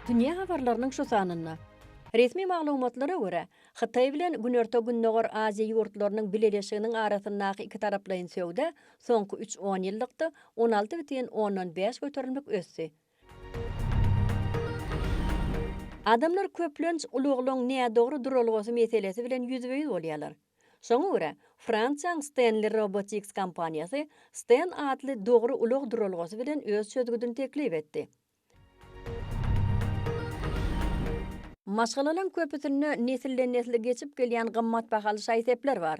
Dünýä habarlarynyň şu sanynda. Resmi maglumatlara görä, Hytaý bilen Günorta-Gündogar Aziýa ýurtlarynyň bileleşiginiň arasyndaky ikitaraplaýyn söwda Soňky üç onýyllykda on alty bütin ondan bäş göterimlik ösdi. Adamlar köplenç ulaglaryň nädogry duralgasy meselesi bilen ýüzbe-ýüz bolýarlar. Şoňa görä, Fransiýanyň Stanley Robotics kompaniýasy Stan atly dogry ulag duralgasy bilen öz çözgüdini teklip etdi. Maşgalalaryň köpüsinde nesilden-nesle geçip gelýän gymmat bahaly şaý-sepler bar.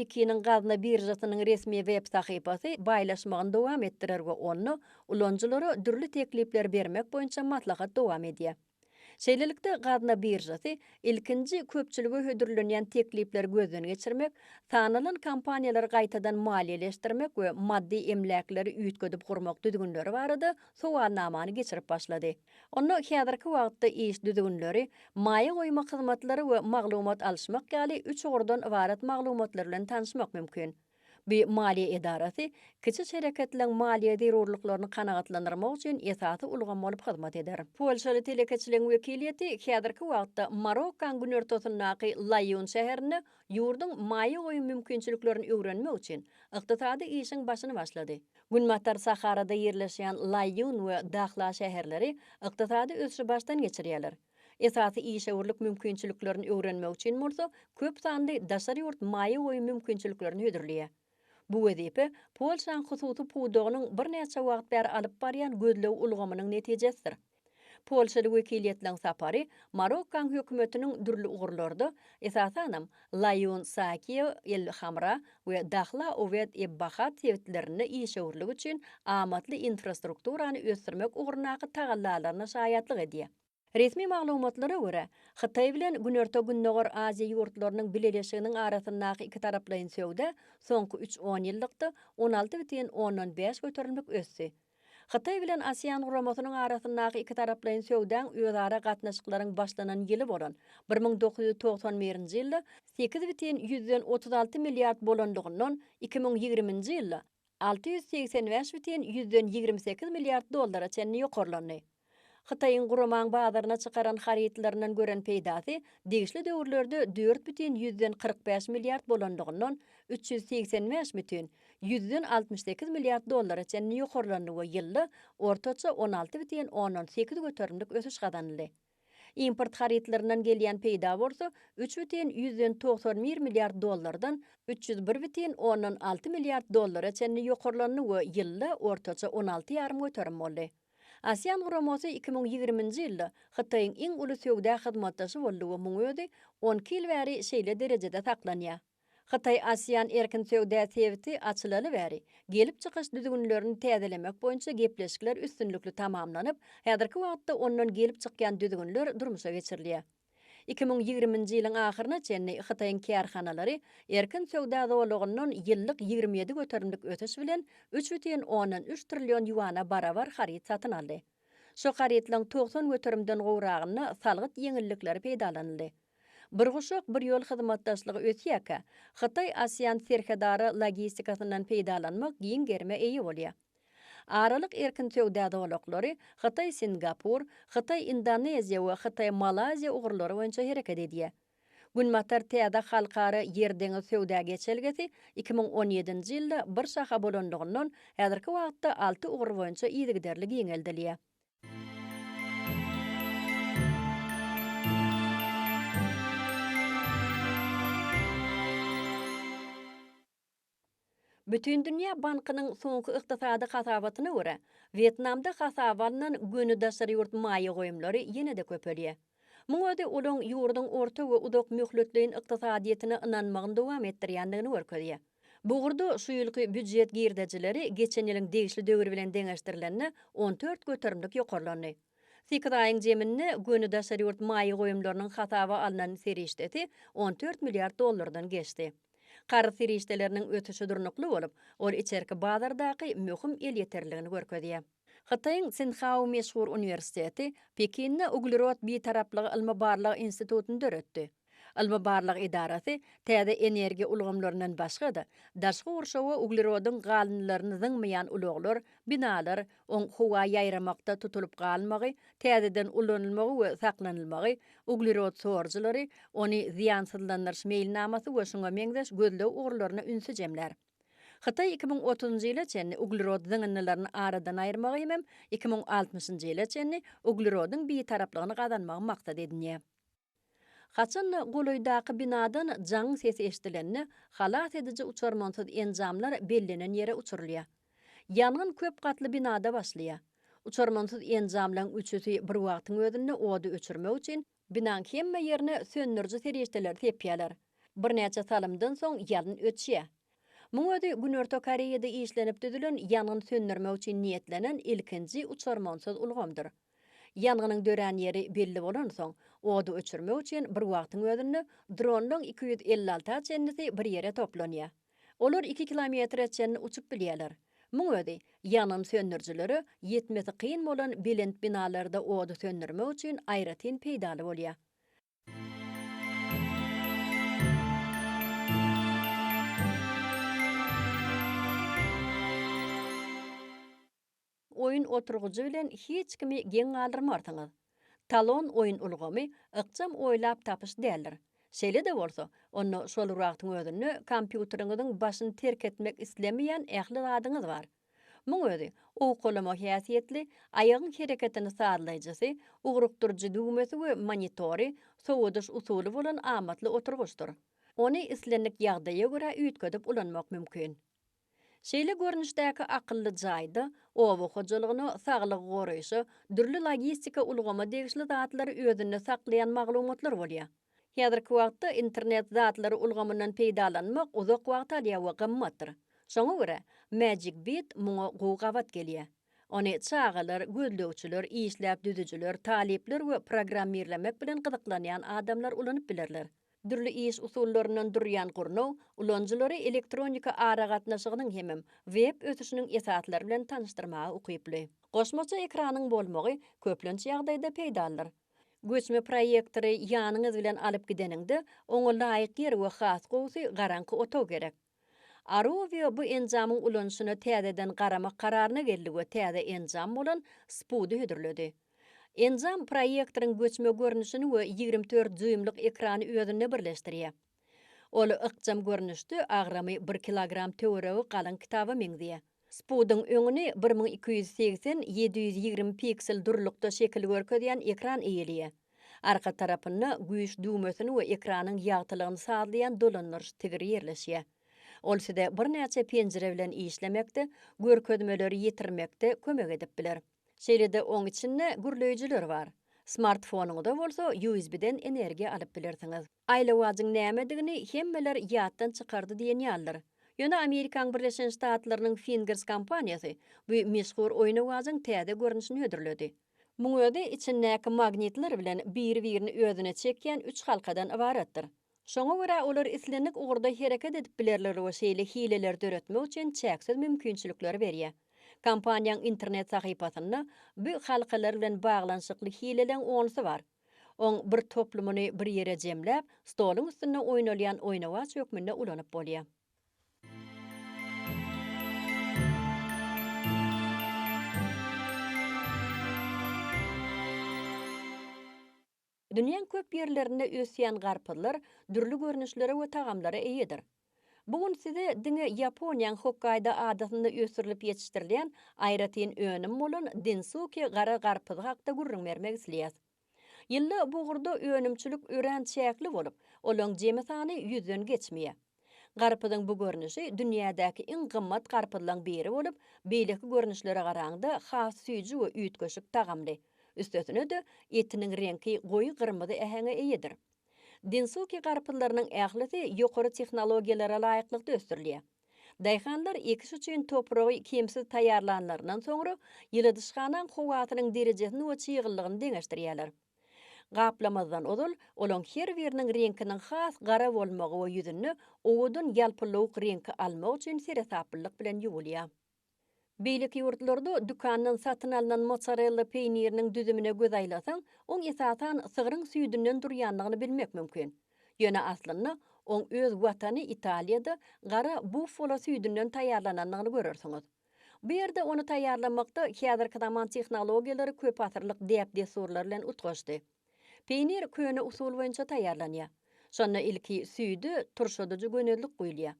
Pekiniň gazna biržasynyň resmi web sahypasy baýlaşmagyny dowam etdirer we onda ulanyjylara dürli teklipleri bermek boýunça maslahat dowam edýär. Şeýlelikde, gazna biržasy ilkinji köpçülige hödürlenýän teklipleri gözden geçirmek, sanalan kompaniýalary gaýtadan maliýeleşdirmek we maddy emläkleri üýtgedip gurmak düzgünleri barada sowalnamany geçirip başlady. Onda häzirki wagtda iş düzgünleri, maýa goýmak hyzmatlary we maglumat alyşmak ýaly üç ugurdan ybarat maglumatlar bilen tanyşmak mümkin. Bu maliýe edarasy kiçi şereketleriň maliýe zerurlyklaryny kanagatlandyrmak üçin esasy ulgam bolup hyzmat eder. Polşaly telekeçiligiň wekiliýeti häzirki wagtda Marokkoň günortasyndaky Laýun şäherinde ýurduň maýa goýum mümkinçiliklerini öwrenmek üçin ykdysady işiň başyny başlady. Günbatar Saharada ýerleşýän Laýun we Dahla şäherleri ykdysady ösüşi başdan geçirýärler. Esasy işewürlik mümkinçiliklerini öwrenmek üçin bolsa köp sanly daşary ýurt maýa goýum mümkinçiliklerini hödürleýär. Bu wezipe Polşanyň hususy pudagynyň birnäçe wagt bäri alyp barýan gözleg ulgamynyň netijesidir. Polşaly wekiliýetleň sapary Marokkoň hökümetiniň dürli ugurlarda, esasanam, Laýun Sakiýew el-Hamra we Dahla Uweýt eb-Bahat sebitlerinde işewürlik üçin amatly infrastrukturany ösdürmek ugrundaky tagallalaryna şaýatlyk edýär. Resmi maglumatlara görä, Hytaý bilen Günorta-Gündogar Aziýa ýurtlarynyň bileleşiginiň arasyndaky ikitaraplaýyn söwda soňky üç onýyllykda on alty bütin ondan bäş göterimlik ösdi. Hytaý bilen ASEAN guramasynyň arasyndaky ikitaraplaýyn söwdaň özara gatnaşyklaryň başlanan ýyly bolan bir müň dokuz ýüz togsan birinji ýylda sekiz bütin ýüzden otuz alty milliard bolanlygyndan iki müň ýigriminji ýylda alty ýüz segsen bäş bütin ýüzden ýigrimi sekiz milliard dollara çenli ýokarlandy. Hytaýyň guramaň bazaryna çykaran harytlaryndan gören peýdasy degişli döwürlerde dört bütin ýüzden kyrk bäş milliard bolandygyndan üç ýüz segsen bäş bütin ýüzden altmyş sekiz milliard dollara çenli ýokarlandy we ýylda ortaça on alty bütin ondan sekiz göterimlik ösüş gazanyldy. Import harytlaryndan gelýän peýda bolsa üç bütin ýüzden togsan bir milliard dollardan üç ýüz bir bütin ondan alty milliard dollara çenli ýokarlandy we ýylda ortaça on alty ýarym göterim boldy. ASEAN guramasy iki müň ýigriminji ýylda Hytaýyň iň uly söwda hyzmatdaşy boldy we muň özi on iki ýyl bäri şeýle derejede saklanýar. Hytaý ASEAN erkin söwda sebiti açylaly bäri, gelip çykyş düzgünlerini täzelemek boýunça gepleşikler üstünlikli tamamlanyp, häzirki wagtda ondan gelip çykýan düzgünler durmuşa geçirilýär. Iki müň ýigriminji ýylyň ahyryna çenli Hytaýyň kärhanalary erkin söwda zolagyndan ýyllyk ýigrimi ýedi göterimlik ösüş bilen üç bütin ondan üç trillion ýuana barabar haryt satyn aldy. Şu harytlaryň togsan göterimden gowragynda salgyt ýeňillikleri peýdalanyldy. Bir guşak, bir ýol hyzmatdaşlygy ösýärkä, Hytaý-ASEAN serhetara logistikasyndan peýdalanmak giň gerime eýe bolýar. Aralyk erkin söwda zolaklary Hytaý-Singapur, Hytaý-Indoneziýa we Hytaý-Malaýziýa ugurlary boýunça hereket edýär. Günbatar täze halkara ýer-deňiz söwda geçelgesi iki müň on ýedinji ýylda bir şaha bolandygyndan, häzirki wagtda alty ugur boýunça yzygiderli giňeldilýär. Bütindünýä bankynyň soňky ykdysady hasabatyna görä, Wýetnamda hasaba alnan göni daşary ýurt maýa goýumlary ýene-de köpelýär. Muň özi olaň ýurduň orta we uzak möhletleýin ykdysadyýetine ynanmagyny dowam etdirýändigini görkezýär. Bu ugurda şu ýylky býujet girdejileri geçen ýylyň degişli döwri bilen deňeşdirilende on dört göterimlik ýokarlandy. Sekiz aýyň jeminde göni daşary ýurt maýa goýumlarynyň hasaba alnan serişdesi on dört milliard dollardan geçdi. Karz serişdeleriniň ösüşi durnukly bolup, ol içerki bazardaky möhüm elýeterligini görkezýär. Hytaýyň Sinhao meşhur uniwersiteti Pekinde Uglerod Bitaraplygy ylmy-barlag institutyny döretdi. Ylmy-barlag edarasy täze energiýa ulgamlaryndan başga-da, daşky gurşawa uglerodyň galyndylaryny zyňmaýan ulaglar, binalar, oň howa ýaýramakda tutulyp galmagy, täzeden ulanylmagy we saklanylmagy, uglerod sorujylary, ony zyýansyzlandyryş meýilnamasy we şuňa meňzeş gözleg ugurlaryna ünsi jemlär. Hytaý iki müň otuzynjy ýyla çenli uglerod zyňyndylaryny aradan aýyrmagy hemem iki müň altmyşynjy ýyla çenli uglerodyň bitaraplygyny gazanmagy maksat edinýär. Haçan-da golaýdaky binadan jaň sesi eşidilende, halas ediji uçarmansyz enjamlar bellenen ýere uçurylýar. Ýangyn köp gatly binada başlaýar. Uçarmansyz enjamlaryň üçüsi bir wagtyň özünde ody öçürmek üçin, binanyň hemme ýerine söndüriji serişdeleri sepýärler. Birnäçe salymdan soň ýalyn öçýär. Muň özi Günorta Koreýada işlenip düzülen ýangyn söndürmek üçin niýetlenen ilkinji uçarmansyz ulgamdyr. Ýangynyň dörän ýeri belli bolansoň, ody öçürmek üçin bir wagtyň özünde dronlaryň iki ýüz elli alty a çenlisi bir ýere toplanýar. Olar iki kilometre çenli uçup bilýärler. Muň özi, ýangyn söndürijilere ýetmesi kyn bolan belent binalarda ody söndürmek üçin aýratyn peýdaly bolýar. Oýun oturgyjy bilen hiç kimi geň galdyrmarsyňyz. Talon oýun ulgamy ykjam oýlap tapyş däldir. Şeýle-de bolsa, onda şol wagtyň özünde kompýuteriňiziň başyny terk etmek islemeýän ähli zadyňyz bar. Muň özi, owkalama häsiýetli, aýagyň hereketini sazlaýjysy, ugrukdyryjy düwmesi we monitory, sowadyş usuly bolan amatly oturgyçdyr. Ony islendik ýagdaýa görä üýtgedip ulanmak mümkin. Şeýle görnüşdäki akylly jaýda oba hojalygyna, saglygy goraýşa, dürli logistika ulgama degişli zatlary özünde saklaýan maglumatlar bolýar. Häzirki wagtda internet zatlary ulgamyndan peýdalanmak uzak wagt alýar we gymmatdyr. Şoňa görä, Magic Beat muňa gowy gabat gelýär. Ony çagalar, gözlegçiler, işläp düzüjiler, talyplar we programmirlemek bilen gyzyklanýan adamlar ulanyp bilerler. Dürli iş usullaryndan durýan gurnaw ulanyjylary elektronika aragatnaşygynyň hemem web ösüşiniň esaslary bilen tanyşdyrmaga ukyply. Goşmaça ekranyň bolmagy köplenç ýagdaýda peýdalydyr. Göçme proýektory ýanyňyz bilen alyp gideniňde, oňa laýyk ýer we has gowusy garaňky otag gerek. Arovio bu enjamyň ulanyşyna täzeden garamak kararyna geldi we täze enjam bolan SPUD-y hödürledi. Enjam proýektoryň göçme görnüşini we ýigrimi dört dýuýmlyk ekrany özünde birleşdirýär. Ol ykjam görnüşde agramy bir kilogram töweregi galyň kitaba meňzeýär. Spudyň öňüni bir müň iki ýüz segsen, ýedi ýüz ýigrimi piksel durulykda şekil görkezýän ekran eýeleýär. Arka tarapynda güýç düwmesini we ekranyň ýagtylygyny sazlaýan dolandyryş tigiri ýerleşýär. Ol size birnäçe penjire bilen işlemekde, görkezmeleri ýetirmekde kömek edip biler. Şeýle-de oň içinde gürleýjiler bar. Smartfonyňyza bolsa USB-den energiýa alyp bilersiňiz. Aýlawajyň nämedigini hemmeler ýatdan çykardy diýen ýalydyr. Ýöne Amerikaň Birleşen Ştatlarynyň Fingers kompaniýasy bu meşhur oýnawajyň täze görnüşini hödürledi. Muň özi içindäki magnitler bilen biri-birini özüne çekýän üç halkadan ybaratdyr. Şoňa görä olar islendik ugurda hereket edip bilerler we şeýle hileleri döretmek üçin çäksiz mümkinçilikleri berýär. Kompaniýaň internet sahypasynda bu halkalar bilen baglanyşykly hileleň onsy bar. Oň bir toplumyny bir ýere jemläp, stoluň üstünde oýnalýan oýnawaç hökmünde ulanyp bolýar. Dünýäň köp ýerlerinde ösýän garpyzlar dürli görnüşlere we tagamlara eýedir. Bu gün size diňe Ýaponiýaň Hokkaýdo adasynda ösdürilip ýetişdirilýän aýratyn önüm bolan Densuki gara garpyzy hakda gürrüň bermek isleýäs. Ýylda bu ugurda önümçilik örän çäkli bolup, olaň jemi sany ýüzden geçmeýär. Garpyzyň bu görnüşi dünýädäki iň gymmat garpyzlaň biri bolup, beýleki görnüşlere garaňda has süýji we üýtgeşik tagamly. Üstesine-de, etiniň reňki goýy gyrmyzy äheňe eýedir. Densuki garpyzlarynyň ählisi ýokary tehnologiýalara laýyklykda ösdürilýär. Daýhanlar ekiş üçin topragy kemsiz taýýarlanlaryndan soňra, ýyladyşhanaň howasynyň derejesini we çyglylygyny deňeşdirýärler. Gaplamazdan ozal, olaň her biriniň reňkiniň has gara bolmagy we ýüzünde owadan ýalpylawuk reňki almak üçin seresaplylyk bilen ýuwulýar. Beýleki ýurtlarda dükandan satyn alnan mozzarella peýniriniň düzümine göz aýlasaň, oň esasan sygryň süýdünden durýandygyny bilmek mümkin. Ýöne aslynda oň öz watany Italiýada gara buffalo süýdünden taýýarlanandygyny görersiňiz. Bu ýerde ony taýýarlamakda häzirki zaman tehnologiýalary köpasyrlyk däp-dessurlar bilen utgaşdy. Peýnir köne usul boýunça taýýarlanýar. Şonda ilki süýde turşadyjy gönezlik guýulýar.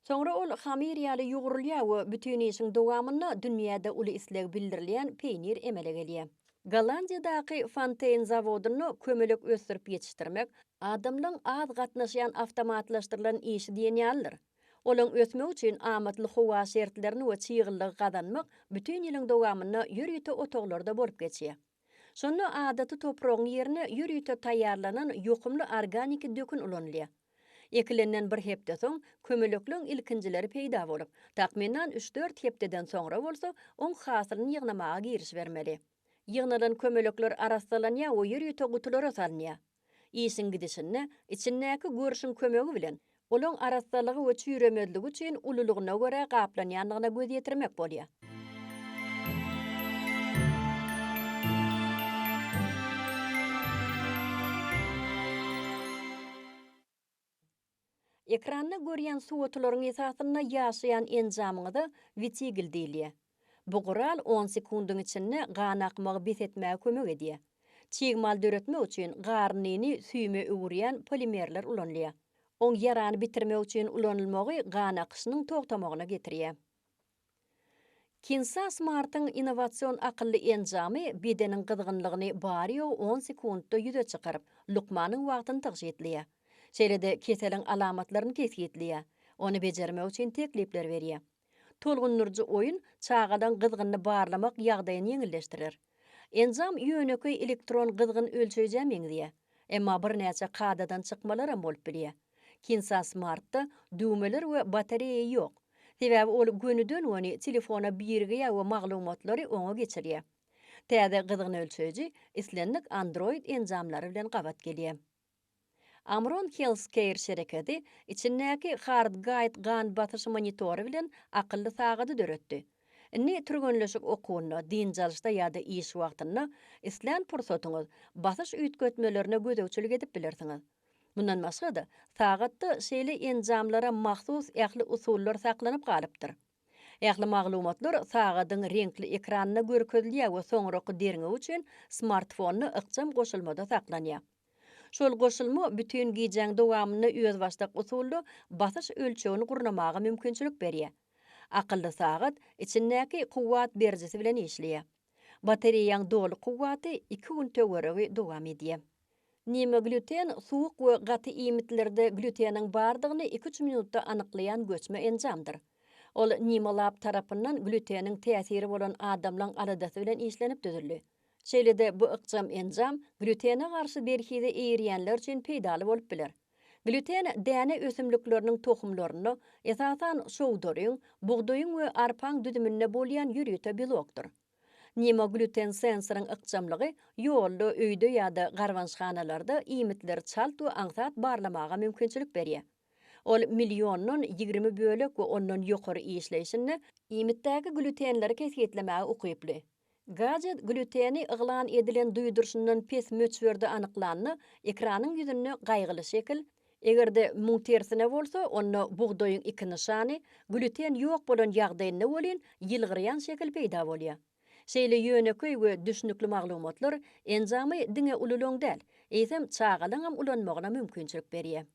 Soňra ol hamyr ýaly ýugrulýar we bütin işiň dowamynda dünýäde uly isleg bildirilýän peýnir emele gelýär. Gollandiýadaky Fonteýn zawodynda kömelek ösdürip ýetişdirmek, adamlaryň az gatnaşýan awtomatlaşdyrylan işi diýen ýalydyr. Olaryň ösmegi üçin amatly howa şertlerini we çyglylygy gazanmak bütin ýylyň dowamynda ýörite otaglarda bolup geçýär. Şonda adaty topragyň ýerine ýörite taýýarlanan ýokumly organiki dökün ulanylýar. Ekilenden bir hepde soň kömelekleň ilkinjileri peýda bolup, takmynan üç-dört hepdeden soňra bolsa oň hasylyny ýygnamaga girişibermeli. Ýygnalan kömelekler arassalanýar we ýörite gutulara salynýar. Işiň gidişinde içindäki görşüň kömegi bilen olaň arassalygy we çüýremezligi üçin ululygyna görä gaplanýandygyna göz ýetirmek bolýar. Ekranda görýän suwotularyň esasynda ýaşaýan enjamyňyza wetigl diýilýär. Bu gural on sekundyň içinde gan akmagy bes etmäge kömek edýär. Çig mal döretmek üçin garnyny süýüme öwürýän polimerler ulanylýar. Oň ýarany bitirmek üçin ulanylmagy gan akyşynyň togtamagyna getirýär. Kinsa Smart-yň innowasion akylly enjamy bedeniň gyzgynlygyny bary-ýogy on sekuntda ýüze çykaryp, lukmanyň wagtyny tygşytlaýar. Şeýle-de keseliň alamatlaryny kesgitleýär, ony bejermek üçin teklipler berýär. Tolgundyryjy oýun çagalaryň gyzgynyny barlamak ýagdaýyny ýeňilleşdirer. Enjam ýönekeý elektron gyzgyn ölçeýjä meňzeýär, emma birnäçe kadadan çykmalaram bolup bilýär. Kinsa Smart-da düwmeler we batareýa ýok, sebäbi ol gönüden-göni telefona birigýär we maglumatlary oňa geçirýär. Täze gyzgyn ölçeýji islendik Android enjamlary bilen gabat gelýär. Amron Healthcare şereketi içindäki HeartGuide gan basyş monitory bilen akylly sagady döretdi. Indi türgenleşik okuwynda, dynç alyşda ýa-da iş wagtynda islän pursatyňyz basyş üýtgetmelerine gözegçilik edip bilersiňiz. Mundan başga-da, sagatda şeýle enjamlara mahsus ähli usullar saklanyp galypdyr. Ähli maglumatlar sagadyň reňkli ekranynda görkezilýär we soňraky derňew üçin smartfonda ykjam goşulmada saklanýar. Şol goşulma bütin gijäň dowamynda özbaşdak usulda basyş ölçegini gurnamaga mümkinçilik berýär. Akylly sagat içindäki kuwwat berijisi bilen işleýär. Batareýaň doly kuwwaty iki gün töweregi dowam edýär. Nime glýuten suwuk we gaty iýmitlerde glýuteniň bardygyny iki-üç minutda anyklaýan göçme enjamdyr. Ol Nime Lab tarapyndan glýuteniň täsiri bolan adamlaň aladasy bilen işlenip düzüldi. Şeýle-de bu ykjam enjam glýutene garşy berhize eýerýänler üçin peýdaly bolup biler. Glýuten däne ösümlikleriniň tohumlarynda, esasan, şowdaryň, bugdaýyň we arpaň düzüminde bolýan ýörite belokdyr. Nemoglýuten sensoryň ykjamlygy ýolda, öýde ýa-da garbançhanalarda iýmitleri çalt we aňsat barlamaga mümkinçilik berýär. Ol milliondan ýigrimi bölek we ondan ýokary işleýşinde iýmitdäki glýutenleri kesgitlemäge ukyply. Gajet glýuteni yglan edilen duýduryşyndan pes möçberde anyklanda, ekranyň ýüzünde gaýgyly şekil, eger-de muň tersine bolsa, onda bugdaýyň iki nyşany, glýuten ýok bolan ýagdaýynda welin, ýylgyrýan şekil peýda bolýar. Şeýle ýönekeý we düşnükli maglumatlar enjamy diňe ululaň däl, eýsem, çagalaňam ulanmagyna mümkinçilik berýär.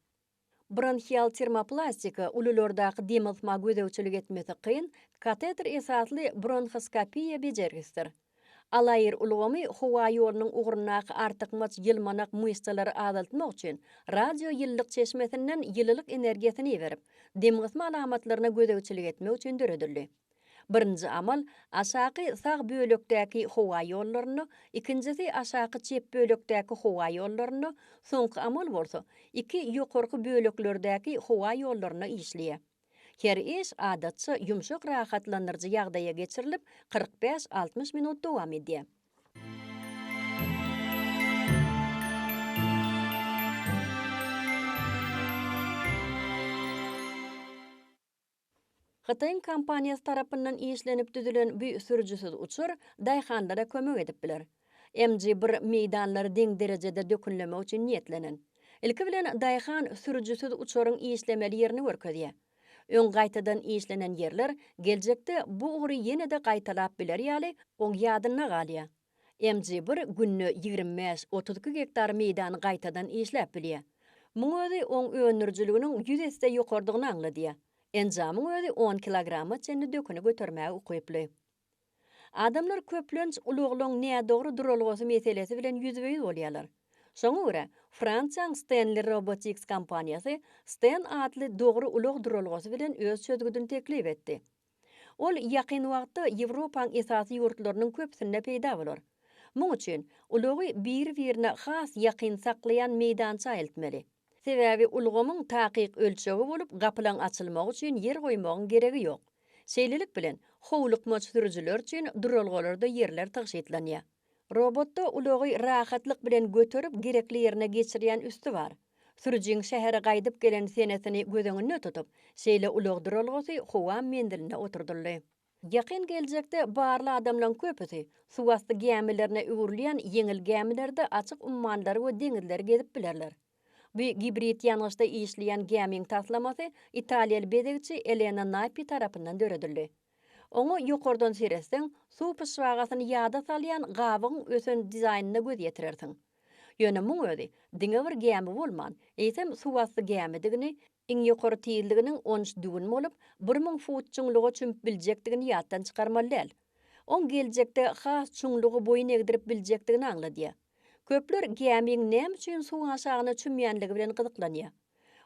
Bronhial termoplastika, ululardaky dem almaga gözegçilik etmesi kyn, kateter esasly bronhoskopiýa bejergisidir. Alaýr ulgamy howa ýolunyň ugrundaky artykmaç ýylmanak myşsalary azaltmak üçin radioýylylyk çeşmesinden ýylylyk energiýasyny iberip, demgysma alamatlaryna gözegçilik etmek üçin döredildi. Birinji amal aşaky sag bölekdäki howa ýollaryna, ikinjisi aşaky çep bölekdäki howa ýollaryna, soňky amal bolsa iki ýokarky böleklerdäki howa ýollaryna işleýär. Her iş adatça ýumşak rahatlandyryjy ýagdaýa geçirilip, kyrk bäş-altmyş minut dowam edýär. Hytaýyň kompaniýasy tarapyndan işlenip düzülen bu sürüjisiz uçar daýhanlara kömek edip biler. MG bir meýdanlary deň derejede dökünlemek üçin niýetlenen. Ilki bilen daýhan sürüjisiz uçaryň işlemeli ýerini görkezýär. Öň gaýtadan işlenen ýerler geljekde bu ugry ýene-de gaýtalap biler ýaly, oň ýadynda galýar. MGBir günde ýigrimi bäş, otuz iki gektar meýdany gaýtadan işläp bilýär. Muň özi oň öndürijiliginiň ýüz esse ýokarydygyny aňladýar. Enjamyň özi on kilograma çenli döküni götermäge ukyply. Adamlar köplenç ulaglaryň nädogry duralgasy meselesi bilen ýüzbe-ýüz bolýarlar. Şoňa görä, Fransiýaň Stanley Robotics kompaniýasy Stan atly dogry ulag duralgasy bilen öz çözgüdini teklip etdi. Ol ýakyn wagtda Ýewropaň esasy ýurtlarynyň köpüsinde peýda bolar. Muň üçin ulagy biri-birine has ýakyn saklaýan meýdança eltmeli. Sebäbi ulgamyň takyk ölçegi bolup gapylaň açylmagy üçin ýer goýmagyň geregi ýok. Şeýlelik bilen, howlukmaç sürüjiler üçin duralgalarda ýerler tygşytlanýar. Robotda ulagy rahatlyk bilen göterip, gerekli ýerine geçirýän üsti bar. Sürüjiň şähere gaýdyp gelen senesini göz öňünde tutup, şeýle ulag duralgasy howa menziline oturdyldy. Ýakyn geljekde barly adamlaryň köpüsi suwasty gämilerine öwrülýän ýeňil gämilerde açyk ummanlary we deňizleri gezip bilerler. Bu gibrid ýangyçda işleýän gämiň taslamasy italiýaly bezegçi Elena Napi tarapyndan döredildi. Oňa ýokardan seretseň, suw pyşbagasyny ýada salýan gabygyň ösen dizaýnyna göz ýetirersiň. Ýöne muň özi diňe bir gämi bolman, eýsem suwasty gämidigini, Iň ýokary tizliginiň on üç düwün bolup, bir müň fut çuňluga çümüp biljekdigini ýatdan çykarmaly däl. Oň geljekde has çuňlugy boýun egdirip biljekdigini aňladýar. Köpler gämiň näme üçin suw aşagyna çümýänligi bilen gyzyklanýar.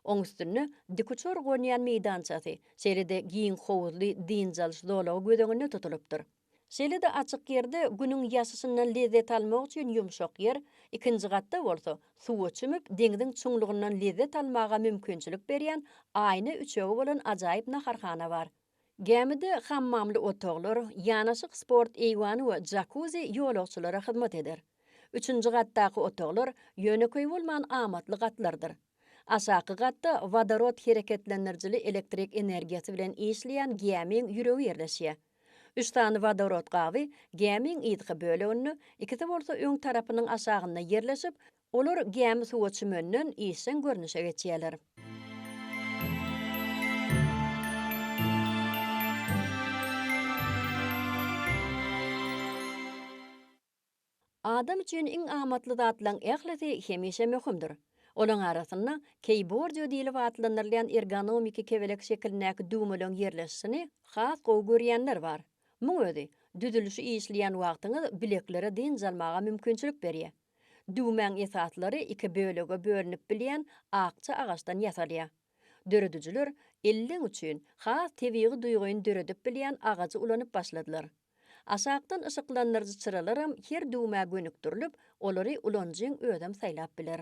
Oň üstünde dikuçar gonýan meýdançasy, şeýle-de giň howuzly dynç alyş zolagy göz öňünde tutulypdyr. Şeýle-de açyk ýerde Günüň ýaşyşyndan lezzet almak üçin ýumşak ýer, ikinji gatda bolsa, suwa çümüp, deňziň çuňlugyndan lezzet almaga mümkinçilik berýän aýna üçegi bolan ajaýyp naharhana bar. Gämide hammamly otaglar, ýanaşyk sport eýwany we jakuzi ýolagçylara hyzmat eder. Üçünji gatdaky otaglar ýönekeý bolman amatly gatlardyr. Aşaky gatda wodorod hereketlendirijili elektrik energiýasy bilen işleýän gämiň ýüregi ýerleşýär. Üç sany wodorod gaby gämiň yzky böleginde, ikisi bolsa öň tarapynyň aşagynda ýerleşip, olar gämi suwa çümenden işjeň görnüşe geçýärler. Adam üçin iň amatly zatlaň ählisi hemişe möhümdir. Olaň arasynda keýbordio diýlip atlandyrylýan ergonomiki kebelek şekilindäki düwmeleň ýerleşişini has gowy görýänler bar. Muň özi, düzülişi işleýän wagtyňyz bileklere dynç almaga mümkinçilik berýär. Düwmäň esaslary iki bölege bölünip bilýän akja agaçdan ýasalýar. Döredijiler elleň üçin has tebigy duýgyny döredip bilýän agajy ulanyp başladylar. Aşakdan yşyklandyryjy çyralaram her düwmä gönükdirilip, olary ulanyjyň özem saýlap biler.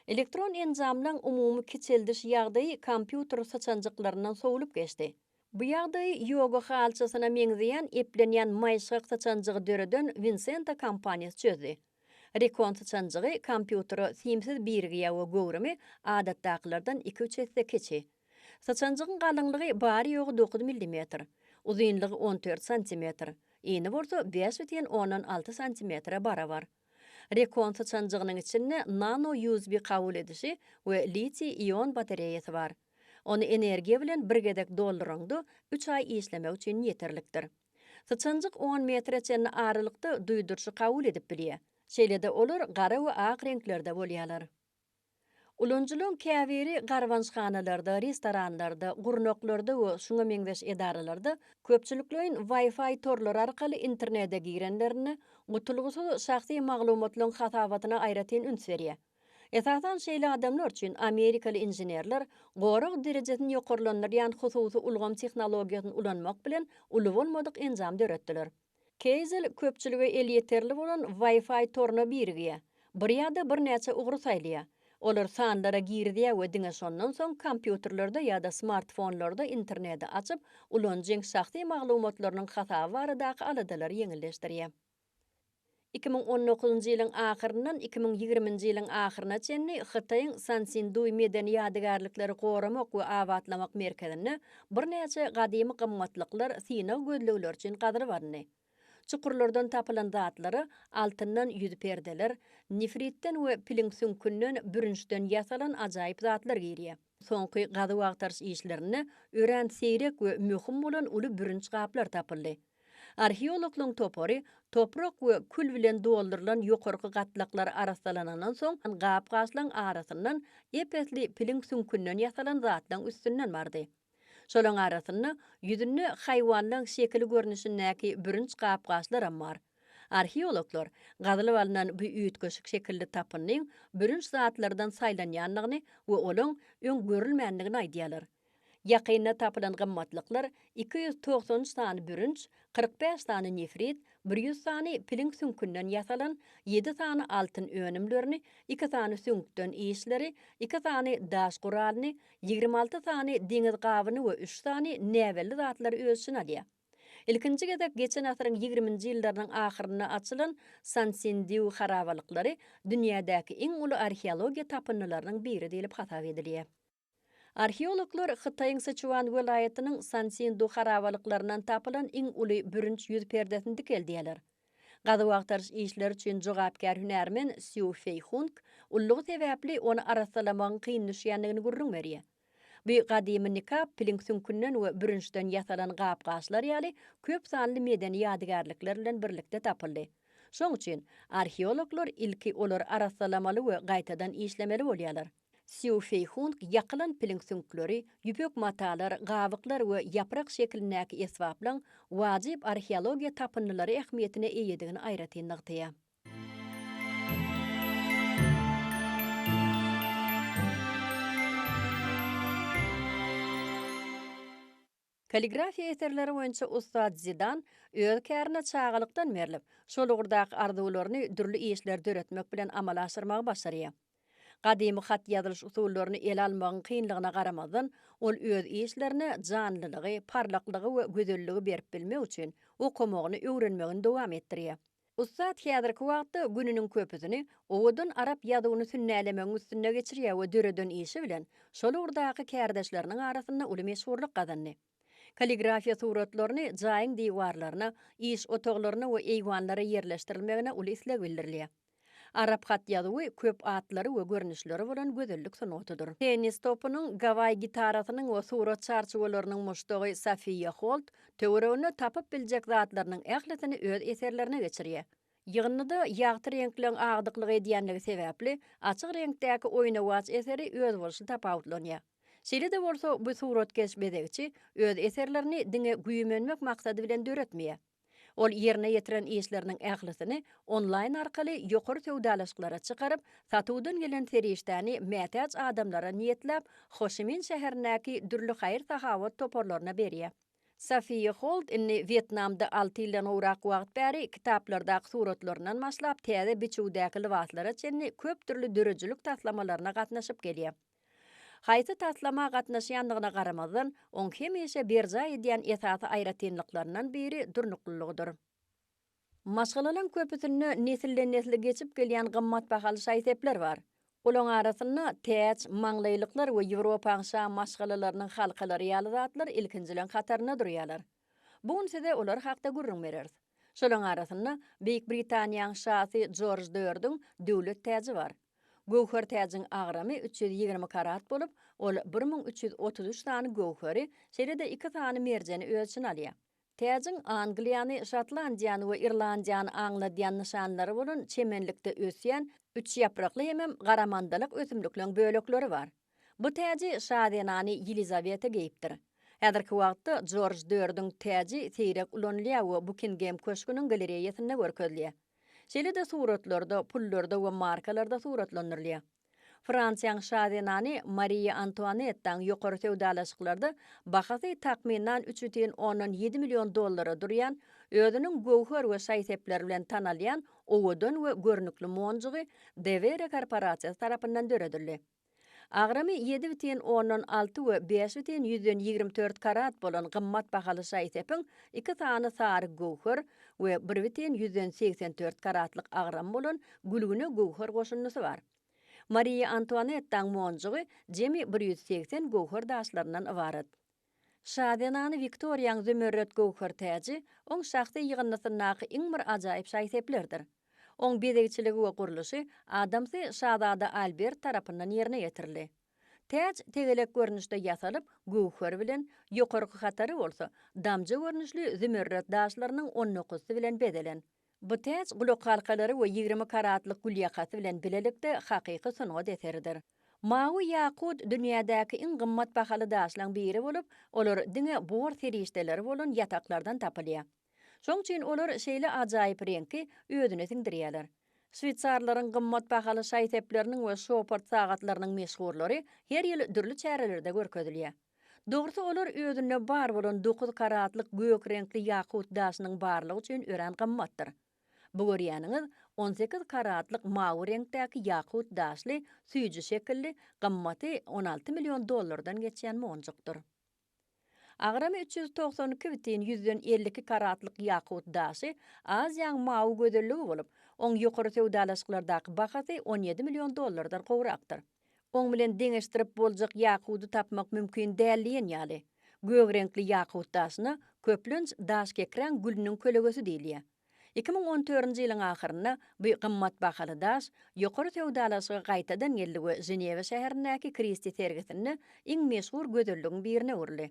Elektron enjamlaň umumy kiçeldiş ýagdaýy kompýuter syçanjyklaryndan sowlup geçdi. Bu ýagdaýy ýoga halçasyna meňzeýän eplenýän maýyşgak syçanjygy döreden Wincento kompaniýasy çözdi. Recon syçanjygy kompýutere simsiz birigýä we göwrümi adatdakylardan iki-üç esse kiçi. Syçanjygyň galyňlygy bary-ýogy dokuz millimetr, uzynlygy on dört santimetr, ini bolsa bäş butyn ondan alty santimetre barabar. Rekon syçanjygynyň içinde nano-USB kabul edişi we litiý-ion batareýasy bar. Ony energiýa bilen bir gezek dolduraňda, üç aý işlemek üçin ýeterlikdir. Syçanjyk on metre çenli aralykda duýduryşy kabul edip bilýär. Şeýle-de olar gara we ak reňklerde bolýarlar. Ulanyjylaryň käbiri garbançhanalarda, restoranlarda, gurnaklarda we şuňa meňzeş edaralarda köpçülikleýin Wi-Fi torlary arkaly internete girenlerinde, gutulgysyz şahsy maglumatlaryň hasabatyna aýratyn üns berýär. Esasan şeýle adamlar üçin amerikaly inženerler gorag derejesini ýokarlandyrýan hususy ulgam tehnologiýasyny ulanmak bilen uly bolmadyk enjam döretdiler. Keýzel köpçülige elýeterli bolan Wi-Fi toruna birigýär. Bir ýa-da birnäçe ugry saýlaýar. Olar sanlara girizýär we diňe şondan soň kompýuterlerde ýa-da smartfonlarda interneti açyp, ulanyjyň şahsy maglumatlarynyň hasaby baradaky aladalary ýeňilleşdirýär. Iki müň on dokuzynjy ýylyň ahyryndan iki müň ýigriminji ýylyň ahyryna çenli Hytaýyň Sansinduý medeni ýadygärlikleri goramak we abatlamak merkezinde birnäçe gadymy gymmatlyklar synag gözlegleri üçin gazylyp alyndy. Çukurlardan tapylan zatlara altyndan ýüz perdeler, nefritden we piliň süňkünden, bürünçden ýasalan ajaýyp zatlar girýär. Soňky gazuw-agtaryş işlerinde örän seýrek we möhüm bolan uly bürünç gaplar tapyldy. Arheologlaryň topary toprak we kül bilen doldurylan ýokarky gatlaklar arassalanandan soň, gap-gaçlaryň arasyndan ep-esli piliň süňkünden ýasalan zatlaryň üstünden bardy. Şolaryň arasynda ýüzünde haýwanlaryň şekili görnüşindäki bürünç gap-gaçlaram bar. Arheologlar gazylyp alnan bu üýtgeşik şekilli tapyndyň bürünç zatlardan saýlanýandygyny we olaň öň görülmändigini aýdýarlar. Ýakynda tapylan gymmatlyklar iki ýüz togsan üç sany bürünç, kyrk bäş sany nefrit, bir ýüz sany piliň süňkünden ýasalan, ýedi sany altyn önümlerini, iki sany süňkden işleri, iki sany daş guralyny, ýigrimi alty sany deňiz gabyny we üç sany näbelli zatlary öz içine alýar. Ilkinji gezek geçen asyryň ýigriminji ýyllarynyň ahyrynda açylan Sansindiu harabalyklary dünýädäki iň uly arheologiýa tapyndylarynyň biri diýlip hasap edilýär. Arheologlar Hytaýyň Syçuan welaýatynyň Sansindu harabalyklaryndan tapylan iň uly bürünç ýüz perdesini dikeldýärler. Gazuw-agtaryş işleri üçin jogapkär hünärmen Sýu Feýhung ullugy sebäpli ony arassalamagyň kyn düşýändigini gürrüň berýär. Bu gadymy nikap piliň süňkünden we bürünçden ýasalan gap-gaçlar ýaly köp sanly medeni ýadygärlikler bilen birlikde tapyldy. Şoň üçin, arheologlar ilki olary arassalamaly we gaýtadan işlemeli bolýarlar. Sýu Feýhung ýakylan piliň süňkleri, ýüpek matalar, gabyklar we ýaprak şeklindäki esbaplaň wajyp arheologiýa tapyndylary ähmiýetine eýedigini aýratyn nygtaýar. Kalligrafiýa eserleri boýunça ussat Zidan öz kärine çagalykdan berlip, şol ugurdaky arzuwlaryny dürli işleri döretmek bilen amala aşyrmagy başarýar. Gadymy hat ýazylyş usullaryny ele almagyň kynlygyna garamazdan, ol öz işlerine janlylygy, parlaklygy we gözelligi berip bilmek üçin okamagyny, öwrenmegini dowam etdirýär. Ussat häzirki wagtda gününiň köpüsini owadan arap ýazuwyny sünnälemegiň üstünde geçirýär we döreden işi bilen şol ugurdaky kärdeşleriniň arasynda uly meşhurlyk gazandy. Kalligrafiýa suratlaryny jaýyň diwarlaryna, iş otaglaryna we eýwanlara ýerleşdirilmegine uly isleg bildirilýär. Arap hat ýazuwy köp atlary we görnüşleri bolan gözellik sungatydyr. Tennis topynyň, Gawaý gitarasynyň we surat çarçuwalarynyň muşdagy Sofiýa Holt Töwereginde tapyp biljek zatlarynyň ählisini öz eserlerine geçirýär. Ýygyndyda ýagty reňkleň agdyklyk edýänligi sebäpli, açyk reňkdäki oýnawaç eseri özboluşly tapawutlanýar. Şeýle-de bolsa, bu suratkeş-bezegçi öz eserlerini diňe güýmenmek maksady bilen döretmeýär. Ol ýerine ýetiren işleriniň ählisini onlaýn arkaly ýokary söwdalaşyklara çykaryp, satuwdan gelen serişdäni mätäç adamlara niýetläp, Ho Şi Min şäherindäki dürli haýyr-sahawat toparlaryna berýär. Sophia Hold indi Wýetnamda alty ýyldan gowrak wagt bäri kitaplardaky suratlaryndan başlap, täze biçüwdäki lybaslara çenli köp dürli döredijilik taslamalaryna gatnaşyp gelýär. Haýsy taslama gatnaşýandygyna garamazdan, oň hemişe berjaý edýän esasy aýratynlyklaryndan biri durnuklylygydyr. Maşgalalaň köpüsinde nesilden-nesle geçip gelýän gymmatbahaly şaý-sepler bar. Olaň arasynda täç, maňlaýlyklar we Ýewropaň şa maşgalalarynyň halkalary ýaly zatlar ilkinjileň hatarynda durýarlar. Bu gün size olar hakda gürrüň bereris. Şolaň arasynda Beýik Britaniýaň şasy Jorj dördüň döwlet täji bar. Göwher täjiň agramy üç ýüz ýigrimi karat bolup, ol bir müň üç ýüz otuz üç sany göwheri, şeýle-de iki sany merjeni öz içine alýar. Täjiň Angliýany, Şotlandiýany we Irlandiýany aňladýan nyşanlary bolan çemenlikde ösýän üçýaprakly hemem garamandalak ösümlikleň bölekleri bar. Bu täji şazenany Ýelizaweta geýipdir. Häzirki wagtda Jorj dördüň täji seýrek ulanylýar we Bukingem köşgüniň galereýasynda görkezilýär. Şeýle-de suratlarda, pullarda we markalarda suratlandyrylýar. Fransiýaň şazenany Mariýa Antuanettaň ýokary söwdalaşyklarda bahasy takmynan üç bütin ondan ýedi million dollara durýan, özüniň göwher we şaý-sepleri bilen tanalýan owadan we görnükli monjugy Devere korporasiýasy tarapyndan döredildi. Agramy ýedi bütin ondan alty we bäş bütin ýüzden ýigrimi dört karat bolan gymmat bahaly şaý-sepiň iki sany sary göwher, we bir biten ýüzden segsen dört karatlyk agramy bolan gülgüne göwher goşundysy bar. Mariýa Antuanettaň monjugy jemi bir ýüz segsen göwher daşlaryndan ybarat. Şa zenany Wiktoriýaň zümerret göwher täji oň şahsy ýygyndysyndaky iň bir ajaýyp şaý-seplerdir. Oň bezegçiligi we gurluşy adamsy şazada Albert tarapyndan ýerine ýetirildi. Täç tegelek görnüşde ýasalyp, göwher bilen, ýokarky hatary bolsa, damja görnüşli zümerret daşlarynyň on dokuzysy bilen bezelen. Bu täç gulakhalkalary we ýigrimi karatlyk gül ýakasy bilen bilelikde hakyky sungat eseridir. Mawy ýakut dünýädäki iň gymmat bahaly daşlaryň biri bolup, olar diňe bor serişdeleri bolan ýataklardan tapylýar. Şoň üçin olar şeýle ajaýyp reňki özüne siňdirýärler. Şweýsarlaryň gymmat bahaly şaý-sepleriniň we şopard sagatlarynyň meşhurlary her ýyl dürli çärelerde görkezilýär. Dogrusy, olar özünde bar bolan dokuz karatlyk gök reňkli ýakut daşynyň barlygy üçin örän gymmatdyr. Bu görýäniňiz on sekiz karatlyk mawy reňkdäki ýakut daşly süýji şekilli, gymmaty on alty million dollardan geçýän monjukdyr. Agramy üç ýüz togsan iki bitin ýüzden elli iki karatlyk ýakut daşy Aziýaň mawy gözelligi bolup, oň ýokary söwdalaşyklardaky bahasy on ýedi million dollardan gowrakdyr. Oň bilen deňeşdirip boljak ýakudy tapmak mümkin däl diýen ýaly. Gök reňkli ýakut daşyna, köplenç, daşkekräň gülüniň kölegesi diýilýär. Iki müň on dördünji ýylyň ahyrynda bu gymmat bahaly daş ýokary söwdalaşyga gaýtadan geldi we Ženewa şäherindäki Kristi sergisinde iň meşhur gözelligiň birine öwrüldi.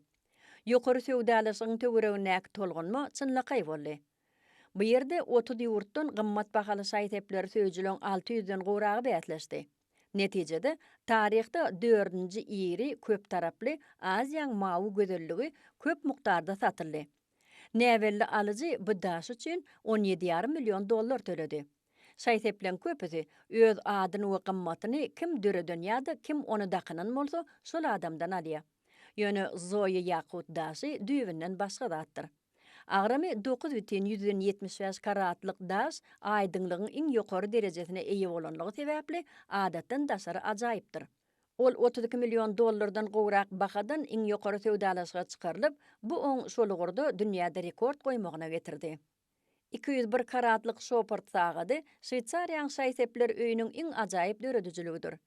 Ýokary söwdalaşygyň töweregindäki tolgunma çynlakaý boldy. Bu ýerde otuz ýurtdan gymmat bahaly şaý-sepleri söýüjileň alty ýüzden gowragy bäsleşdi. Netijede, taryhda dördünji iri köptaraply Aziýaň mawy gözelligi köp mukdarda satyldy. Näbelli alyjy bu daş üçin on ýedi ýarym million dollar töledi. Şaý-sepleriň köpüsi öz adyny we gymmatyny kim döreden ýa-da kim ony dakynan bolsa, şol adamdan alýar. Ýöne Zoýa ýakut daşy düýbünden başga zatdyr. Agramy dokuz bütin ýüzden ýetmiş bäş karatlyk daş aýdyňlygyň iň ýokary derejesine eýe bolanlygy sebäpli adatdan daşary ajaýypdyr. Ol otuz iki million dollardan gowrak bahadan iň ýokary söwdalaşyga çykarylyp, bu oň şol ugurda dünýäde rekord goýmagyna getirdi. Iki ýüz bir karatlyk Şopard sagady Şweýsariýaň Şaý-Sepler öýüniň iň ajaýyp döredijiligidir.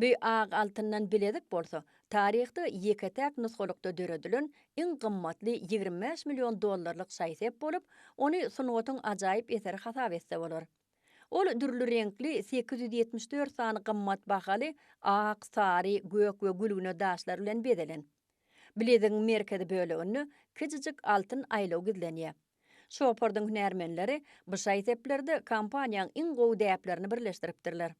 Bu ak altyndan bilezik bolsa, taryhda ýeke-täk nusgalykda döredilen iň gymmatly ýigrimi bäş million dollarlyk şaý-sep bolup, ony sungatyň ajaýyp eseri hasap etse bolar. Ol dürli reňkli sekiz ýüz ýetmiş dört sany gymmat bahaly ak, sary, gök we gülgüne daşlar bilen bezelen. Bilezigiň merkezi böleginde kiçijik altyn aýlaw gizlenýär. Şopardyň hünärmenleri bu şaý-seplerde kompaniýaň iň gowy däplerini birleşdiripdirler.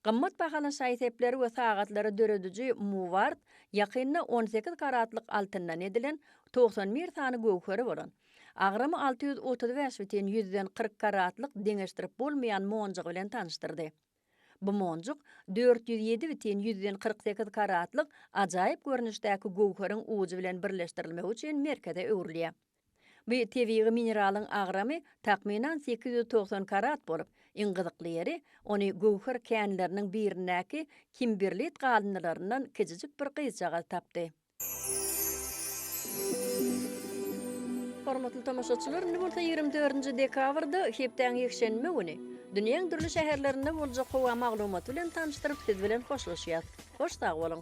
Gymmat bahaly şaý-sepleri we sagatlary dörediji Muward ýakynda on sekiz karatlyk altyndan edilen, togsan bir sany göwheri bolan, agramy alty ýüz otuz bäş bitin ýüzden kyrk karatlyk deňeşdirip bolmaýan monjugy bilen tanyşdyrdy. Bu monjuk dört ýüz ýedi bitin ýüzden kyrk sekiz karatlyk ajaýyp görnüşdäki göwheriň ujy bilen birleşdirilmegi üçin merkeze öwrülýär. Bu tebigy mineralyň agramy takmynan sekiz ýüz togsan karat bolup, iň gyzykly ýeri, ony göwher känleriniň birindäki kimberlit galyndylaryndan kiçijik bir gyzjagaz tapdy. Hormatly tomaşaçylar, indi bolsa ýigrimi dördünji dekabrda, hepdäň ýekşenbe güni, dünýäň dürli şäherlerinde boljak howa maglumaty bilen tanyşdyryp, siz bilen hoşlaşýas. Hoş sag boluň!